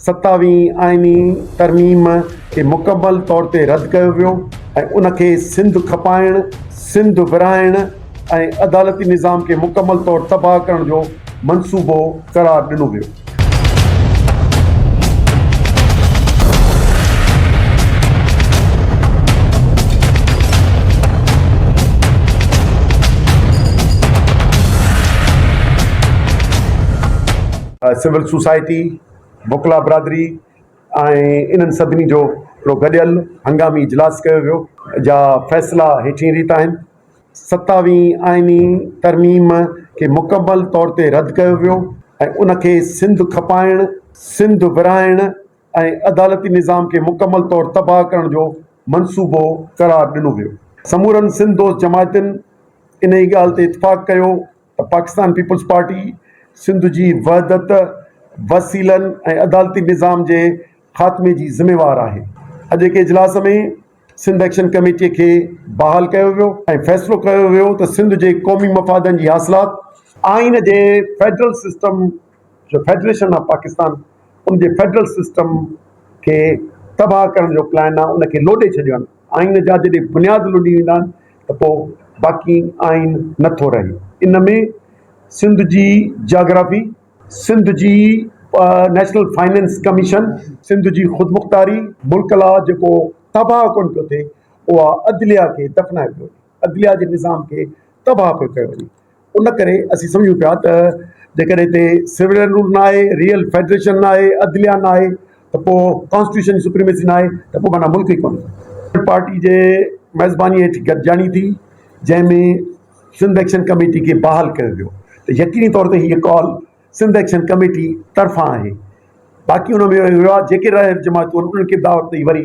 ستاويهين آئيني ترميم کي مڪمل طور تي رد ڪيو ويو ۽ ان کي سنڌ کپائڻ، سنڌ ورهائڻ ۽ عدالتي نظام کي مڪمل طور تباهه ڪرڻ جو منصوبو قرار ڏنو ويو. سول سوسائٽي، وڪلا برادري ۽ انهن سڀني جو هڪڙو گڏيل هنگامي اجلاس ڪيو ويو. جا فيصلا هيٺين ريت آهن. ستاويهين آئيني ترميم کي مڪمل طور تي رد ڪيو ويو ۽ ان کي سنڌ کپائڻ، سنڌ ورهائڻ ۽ عدالتي نظام کي مڪمل طور تباهه ڪرڻ جو منصوبو قرار ڏنو ويو. سمورن سنڌ دوست جماعتن انهيء ڳالهه تي اتفاق ڪيو ته پاڪستان پيپلز پارٽي سنڌ جي وحدت، وسيلن ۽ عدالتي نظام جي خاتمي جي ذميوار آهي. اڄوڪي اجلاس ۾ سنڌ ايڪشن ڪميٽي کي بحال ڪيو ويو ۽ فيصلو ڪيو ويو ته سنڌ جي قومي مفادن جي حاصلات، آئين جي فيڊرل سسٽم جو فيڊريشن آف پاڪستان ان جي فيڊرل سسٽم کي تباهه ڪرڻ جو پلان آهي، ان کي لوڏي ڇڏيو آهن، آئين جا جڏهن بنياد لڏي ويندا آهن ته پوء باقي آئين نه ٿو رهي، ان ۾ سنڌ جي جاگرافي، سنڌ جي نيشنل فنانس ڪميشن، سنڌ جي خودمختاري، ملڪ لا جيڪو تباهه ڪونه پيو ٿئي، اها عدليه کي دفنايو پيو وڃي. عدليه جي نظام کي تباهه پيو ڪيو وڃي ان ڪري اسين سمجهون پيا ته جيڪڏهن هتي سولين رول نه آهي ريئل فيڊريشن نه آهي عدليه نه آهي ته پوء ڪانسٽيٽيوشن جي سپريميسي نه آهي ته پوء معنيٰ ملڪ ئي ڪونهي پارٽي جي ميزباني هيٺ گڏجاڻي ٿي جنهن ۾ سنڌ ايڪشن ڪميٽي کي بحال ڪيو ويو ته يقيني طور تي هيء ڪال سنڌ ايڪشن ڪميٽي طرفان آهي باقي ان ۾ ويو آهي جيڪي رائل جماعتون انهن کي دعوت ڏئي وري